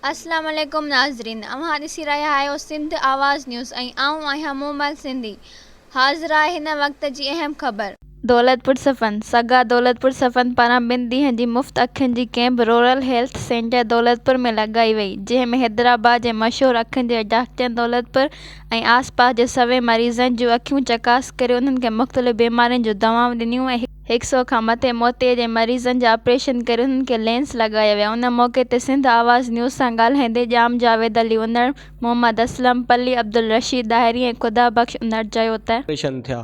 اسلام عليڪم ناظرين اوهان ڏسي رهيا آهيو سنڌ آواز نيوز ۽ آئون آهيان مومل سنڌي حاضر آهي هن وقت جي اهم خبر. دولتپور صفن، سگا دولتپور صفن پاران ٻن ڏينهن جي مفت اکين جي camp rural health centre Daulatpur ۾ لڳائي وئي جنهن ۾ حيدرآباد جي مشهور اکين جي ڊاڪٽرن دولتپور ۽ آس پاس جي سوين مريضن جون اکيون چڪاس ڪري انهن کي مختلف بيمارين جون دوائون ڏنيون ۽ هڪ سئو کان مٿي موتي جي مريضن جا آپريشن ڪري انهن کي لينس لڳايا ويا ان موقعي تي سنڌ آواز نيوز سان ڳالهائيندي ڄام جاويد علي انڙ، محمد اسلم پلي، عبدالرشيد ڏاهري ۽ خدا بخش انڙ چيو ته. آپريشن ٿيا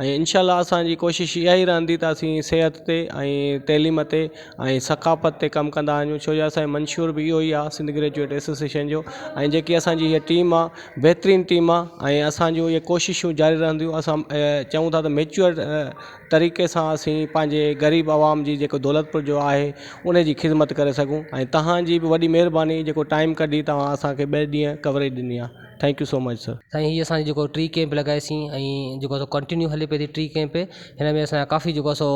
۽ انشاء الله اسان جي ڪوشش اها ئي رهندي ته اسين صحت تي ۽ تعليم تي ۽ ثقافت تي ڪم ڪندا وڃون ڇو جو اسان جو منشور به اهو ئي آهي سنڌ گريجوئيٽ ايسوسيئيشن جو ۽ جيڪي اسان جي هيء ٽيم آهي بهترين ٽيم آهي ۽ اسان جون اهي ڪوششون جاري رهنديون اسان چئون ٿا ته ميچوئر طريقي سان اسين پنهنجي غريب عوام جي جيڪو دولتپور جو آهي ان جي خدمت ڪري سگهون ۽ توهان جي به وڏي مهرباني جيڪو ٽائيم ڪڍي توهان اسانکي ٻئي ڏينهن ڪوريج ڏني آهي thank you so much sir. سائين هي اسان جيڪو ٽي ڪيمپ لڳائيسين ۽ جيڪو سو ڪنٽينيو هلي پئي ٿي ٽي ڪيمپ هن ۾ اسان ڪافي جيڪو سو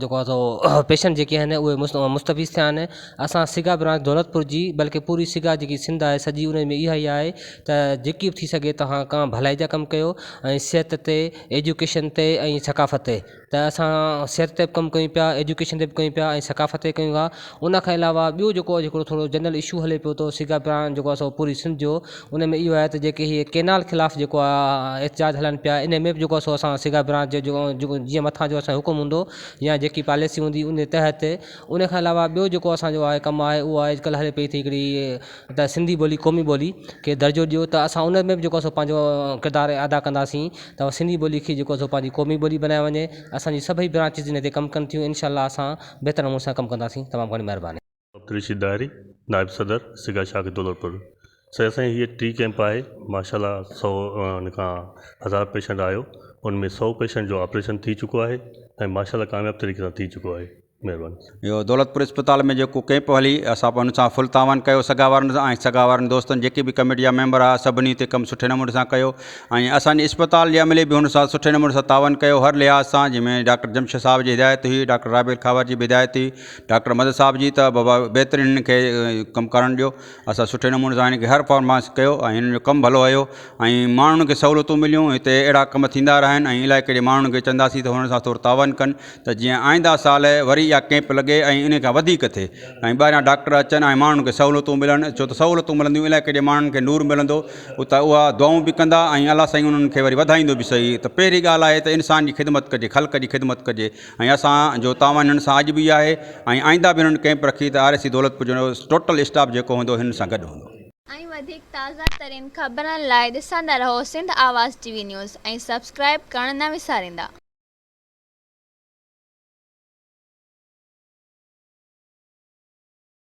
جيڪو آ سو پيشنٽ جيڪي آهن اهي مستفيض ٿيا آهن اسان سگا برانچ دولتپور جي بلڪه پوري سگا جيڪي سنڌ آهي سڄي ان ۾ اها ئي آهي ته جيڪي به ٿي سگهي توهان ڪا ڀلائي جا ڪم ڪيو ۽ صحت تي ايجوڪيشن تي ۽ ثقافت تي ته اسان صحت تي به ڪم ڪيون پيا ايجوڪيشن تي به ڪيون پيا ۽ ثقافت تي ڪيون پيا ان کان علاوه ٻيو جيڪو اڄ ڪلهه ٿورو جنرل اشو هلي پيو ٿو سگا پراڻ جيڪو اسان پوري سنڌ جو ان ۾ اهو آهي ته جيڪي هي ڪينال خلاف جيڪو آهي احتجاج هلن پيا ان ۾ به جيڪو سو اسان سگا پراڻ جي جو جيڪو جيئن مٿان جو اسان حڪم هوندو يا جيڪي پاليسي هوندي ان تحت ان کان علاوه ٻيو جيڪو اسان جو آهي ڪم آهي اهو آهي اڄ ڪلهه هلي پئي ٿي هڪڙي ته سنڌي ٻولي قومي ٻولي کي درجو ڏيو ته اسان ان ۾ به جيڪو سو پنهنجو ڪردار ادا ڪنداسين ته سنڌي ٻولي کي جيڪو سو پنهنجي قومي ٻولي بنايو وڃي اسانجي سڀئي برانچز ان تي ڪم ڪن ٿيون انشاء الله اسان بهتر نموني سان ڪم ڪنداسين تمام گهڻي مهرباني. عبدالرشيد ڏاهري نائب صدر سگا شاخ دولتپور سائين اسانجي هيء ٽي ڪيمپ آهي ماشاء الله سؤ ان کان هزار پيشنٽ آيو ان ۾ سؤ پيشنٽ جو آپريشن ٿي چڪو آهي ۽ ماشاء الله ڪامياب طريقي سان ٿي چڪو آهي مهرباني. اهو دولتپور اسپتال ۾ جيڪو ڪئمپ هلي اسان ان سان فل تعاون ڪيو سگا وارن سان ۽ سگا وارن دوستن جيڪي به ڪميٽي جا ميمبر ها سڀني اتي ڪم سٺي نموني سان ڪيو ۽ اسان جي اسپتال جي عملي به ان سان سٺي نموني سان تعاون ڪيو هر لحاظ سان جنهن ۾ ڊاڪٽر جمشيد صاحب جي هدايت هئي ڊاڪٽر رابيل کهاور جي به هدايت هئي ڊاڪٽر مدد صاحب جي ته بابا بهترين هنن کي ڪم ڪرڻ ڏيو اسان سٺي نموني سان هن کي هر فارماس ڪيو ۽ هن جو ڪم ڀلو هيو ۽ ماڻهن کي سهولتون مليون هتي اهڙا ڪم ٿيندا رهن ۽ علائقي جي ماڻهن کي چونداسين ته هنن سان ٿورو تعاون ڪن ته جيئن آئنده سال وري اها ڪيمپ لڳي ۽ ان کان وڌيڪ ٿئي ۽ ٻاهريان ڊاڪٽر اچن ۽ ماڻهن کي سهولتون ملن ڇو ته سهولتون ملنديون علائقي جي ماڻهن کي نور ملندو ته اها دعائون به ڪندا ۽ الله سائين انهن کي وري وڌائيندو به صحيح ته پهرين ڳالهه آهي ته انسان جي خدمت ڪجي خلق جي خدمت ڪجي ۽ اسان جو تعاون هنن سان اڄ به آهي ۽ آئنده به هنن ڪئمپ رکي ته آر اي سي دولتپور جو ٽوٽل اسٽاف جيڪو هوندو هنن سان گڏ هوندو. ۽ وڌيڪ تازا ترين خبرن لاء ڏسندا رهو Sindh Awaz T V news ۽ subscribe ڪرڻ نه وساريندا.